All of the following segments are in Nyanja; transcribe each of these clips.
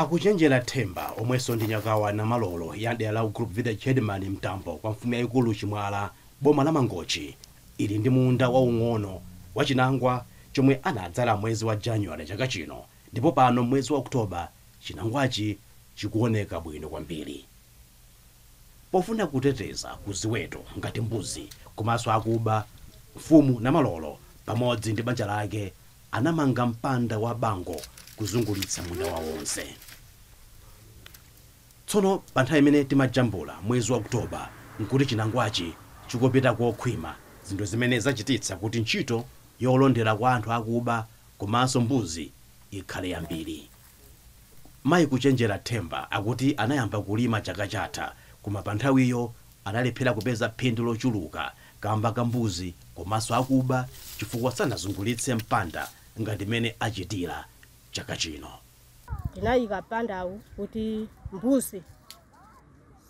Akuchenjera Themba omwenso ndi Nyakwawa Namalolo ya mdera la Group Village Headman Mtambo kwa mfumu yaikulu Chimwala boma la Mangochi ali ndi munda waung'ono wa chinangwa chomwe anadzala mwezi wa January chaka chino ndipo pano m'mwezi wa October chinangwachi chikuoneka bwino kwambiri. Pofuna kuteteza ku ziweto ngati mbuzi komanso akuba, Mfumu Namalolo pamodzi ndi banja lake anamanga mpanda wa bango kuzungulitsa munda wawo wonse. Tsono pa nthawi imene timajambula mwezi wa October n'kuti chinangwachi chikupita kokhwima, zinthu zimene zachititsa kuti ntchito yolondera kwa anthu akuba komanso mbuzi ikhale yambiri. Mayi Kuchenjera Themba akuti anayamba kulima chaka chatha koma pa nthawiyo analephera kupeza phindu lochuluka kamba ka mbuzi komanso akuba chifukwa sanazungulitse mpanda ngati mmene achitira chaka chino. Tinayika mpandawu kuti mbuzi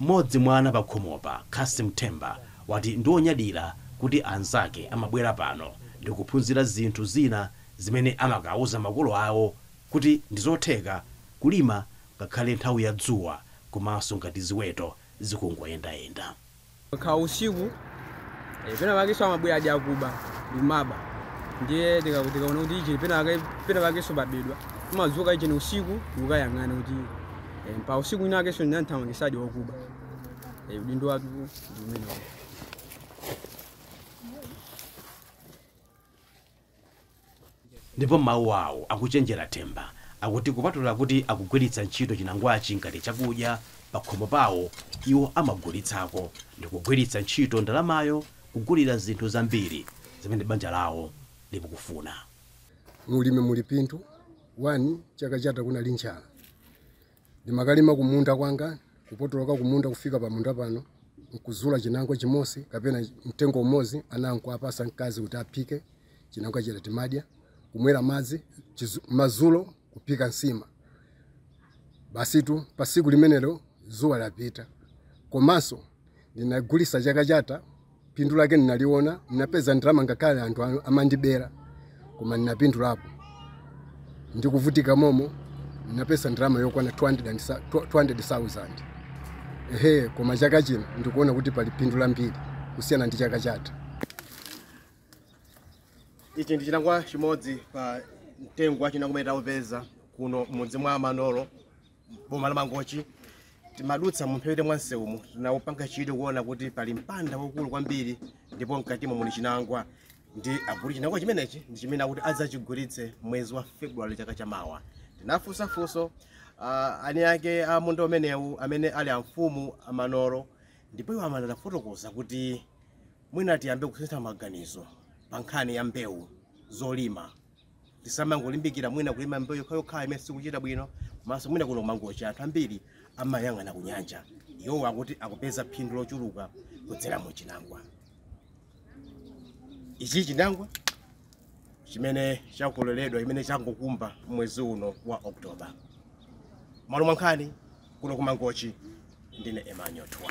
Mmodzi mwa ana pakhomopa, Cassim Themba, wati ndi wonyadira kuti anzake amabwera pano ndi kuphunzira zinthu zina zimene amakauza makolo awo kuti ndi zotheka kulima ngakhale nthawi ya dzuwa komanso ngati ziweto zikungoyendayenda. Kukhala usiku eh, pena pakenso amabwera aja akuba n'kumaba ndiye tika- tikaona kuti ichi pena pake- pena pakenso pabedwa timadzuka ichi ni usiku n'kukayang'ana kuti eh, pa usiku ina akenso ndinamuthamangisadi wakuba Eh, udindo wathu ndi umenewo Ndipo mawu awo akuchenjera Themba akuti kupatula kuti akugwiritsa ntchito chinangwachi ngati chakudya pakhomo pawo, iwo amagulitsako ndi kugwiritsa ntchito ndalamayo kugulira zinthu zambiri zimene banja lawo likukufuna. Mu ulimi muli phindu, 1 chaka chatha kunali njala. ndimakalima kumunda kwanga kupotoloka kumunda kufika pamunda pano nkuzula chinangwa chimozi kapena mtengo umozi ana n'kuwapasa mkazi kuti aphike chinangwa chija timadya kumwera madzi chizu- mazulo kuphika nsima basitu pa siku limenelo zuwa lapita komanso Ndinagulisa chaka chatha, phindu lake ndinaliona, ndinapeza ndalama ngakhale anthu a- amandibera koma ndinapindulapo. Ndikuvutika momo ndinapeza ndalama yokwana 200 and sa- 200,000. Ehe, koma chaka chino ndikuona kuti pali phindu lambiri kusiyana ndi chaka chatha. ichi ndi chinangwa chimodzi pa mtengo wa chinangwa umene taupeza kuno m'mudzi mwa Namalolo boma la mangochi timadutsa mumphepete mwa msewumu tinapanga chidwi kuona kuti pali mpanda waukulu kwambiri ndipo mkatimo muli chinangwa ndi akuti chinangwa chimenechi ndi chimene akuti adzachigulitse mwezi wa february chaka cha mawa tinafunsa funso uh, eni ake a munda umenewu amene ali amfumu amanolo ndipo iwo amatifotokozera kuti mwina tiyambe kusintha maganizo pa nkhani ya mbewu zolima tisamangolimbikira mwina kulima mbewu yokhayokha imene sikuchita bwino komanso mwina kuno kumangochi anthu ambiri amayang'ana ku nyanja iwowo akuti akupeza phindu lochuluka kudzera mu chinangwa ichi chinangwa chimene chakololedwa chimene changokumba mwezi uno wa oktoba malo mwa nkhani kuno kumangochi ndine emmanuel twa